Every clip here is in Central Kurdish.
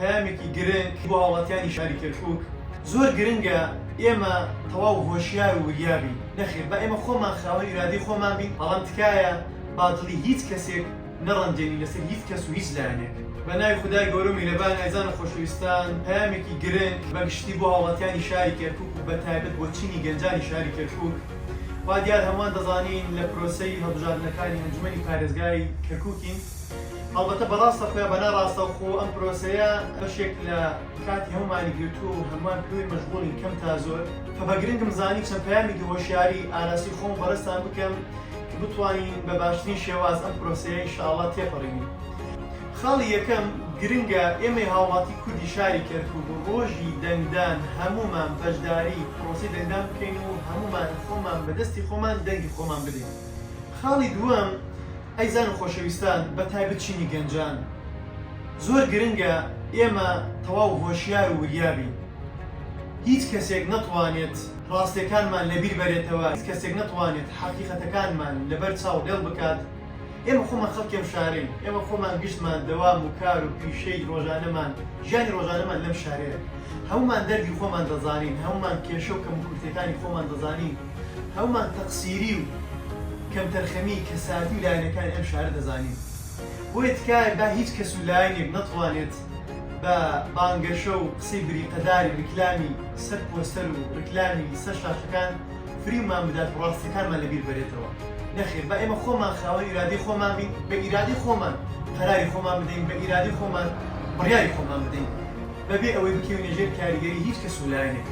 پەیامێکی گرنگ بۆ هاوڵاتیانی شاری کەرکوک، زۆر گرنگە ئێمە تەواو هۆشیار و وریا بین، نەخێر با ئێمە خۆمان خاوەن ئیرادەی خۆمان بین، بەڵام تکایە با دڵی هیچ کەسێک نەڕەنجێنین لەسەر هیچ کەس و هیچ لایەنێک. بە ناوی خودای گەورە و میرەبان ئازیزان و خۆشەویستان، پەیامێکی گرنگ بە گشتی بۆ هاوڵاتیانی شاری کەرکوک و بە تایبەت بۆ چینی گەنجانی شاری کەرکوک، وا دیار هەمووان دەزانین لە پرۆسەی هەڵبژاردنەکانی ئەنجومەنی پارێزگای کەرکوکین، هەڵبەتە بە ڕاستەخۆ یا بە ناڕاستەوخۆ ئەم پرۆسەیە بەشێک لە کاتی هەموومانی گرتووە و هەمووان پێوەی مەشغوڵین کەم تا زۆر، کە بە گرنگم زانی چەند پەیامێکی هۆشیاری ئاراسی خۆم و بەڕێزتان بکەم کە بتوانین بە باشترین شێواز ئەم پرۆسەیە ان شاء اللە تێپەڕینین. خاڵی یەکەم، گرنگە ئێمەی هاوڵاتی کوردی شاری کەرکوک ڕۆژی دەنگدان هەموومان بەشداری پرۆسەی دەنگدان بکەین و هەموومان خۆمان بە دەستی خۆمان دەنگی خۆمان بدەین. خاڵی دووەم، ئەی زان و خۆشەویستان بە تایبەت چینی گەنجان زۆر گرنگە ئێمە تەواو هۆشیار و وریا بین هیچ کەسێک نەتوانێت ڕاستێکانمان لە بیر بەرێتەوە هیچ کەسێک نەتوانێت حەقیقەتەکانمان لە بەر چاو لێڵ بکات ئێمە خۆمان خەڵکی ئەم شارەین ئێمە خۆمان گشتمان دەوام و کار و پیشەی ڕۆژانەمان ژیانی ڕۆژانەمان لەم شارەیە هەموومان دەردی خۆمان دەزانین هەموومان کێشە و کەموکورتیەکانی خۆمان دەزانین. هەموومان تەقسیری و کەمتەرخەمیی کەسایەتی و لایەنەکانی ئەم شارە دەزانین، بۆیە تکایە با هیچ کەس و لایەنێک نەتوانێت بە بانگەشە و قسەی بریقەداری ریکلامی سەر پۆستەر و ریکلامی سەر شاشەکان فریومان بدات و راستییەکانمان لەبیر بەرێتەوە. نەخێر، با ئێمە خۆمان خاوەن ئیرادەی خۆمان بین، بە ئیرادەی خۆمان قەراری خۆمان بدەین، بە ئیرادەی خۆمان بڕیاری خۆمان بدەین، بەبێ ئەوەی بکەوینە ژێر کاریگەریی هیچ کەس و لایەنێک.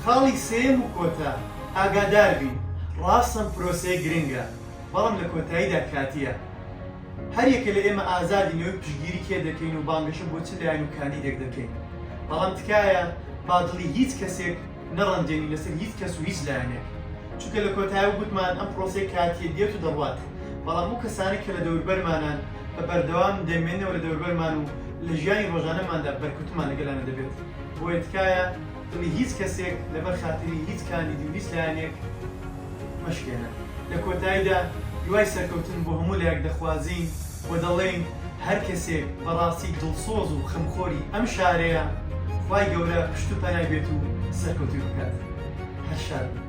خاڵی سێیەم و کۆتا، ئاگادار بین، ڕاستم پرۆسەیە گرنگە، بەڵام لە کۆتاییدا کاتییە. هەر یەکە لە ئێمە ئازادین ئەوەی پشتگیری کێ دەکەین و بانگەشە بۆ چ لایەن و کاندیدێک دەکەین، بەڵام تکایە با دڵی هیچ کەسێک نەڕەنجێنین لەسەر هیچ کەس و هیچ لایەنێک، چونکە لە کۆتایە وگوتمان ئەم پرۆسەیە کاتییە دێت و دەڕوات، بەڵام ئەو کەسانەی کە لە دەوربەرمانان بە بەردەوام دەمێننەوە لە دەوربەرمان و لە ژیانی ڕۆژانەماندا بەرکوتمان لەگەڵیانە دەبێت، بۆیە تکایە. دڵی هیچ کەسێک لەبەر خاتری هیچ کاندیدو هیچ لایەنێک مەشکێنە. لە کۆتاییدا هیوای سەرکەوتن بۆ هەموو لایەک دەخوازین و دەڵێین هەر کەسێک بەڕاستی دڵسۆز و خەمخۆری ئەم شارەیە خوای گەورە پشت و پەنای بێت و سەرکەوتووی بکات. هەر شاد بن.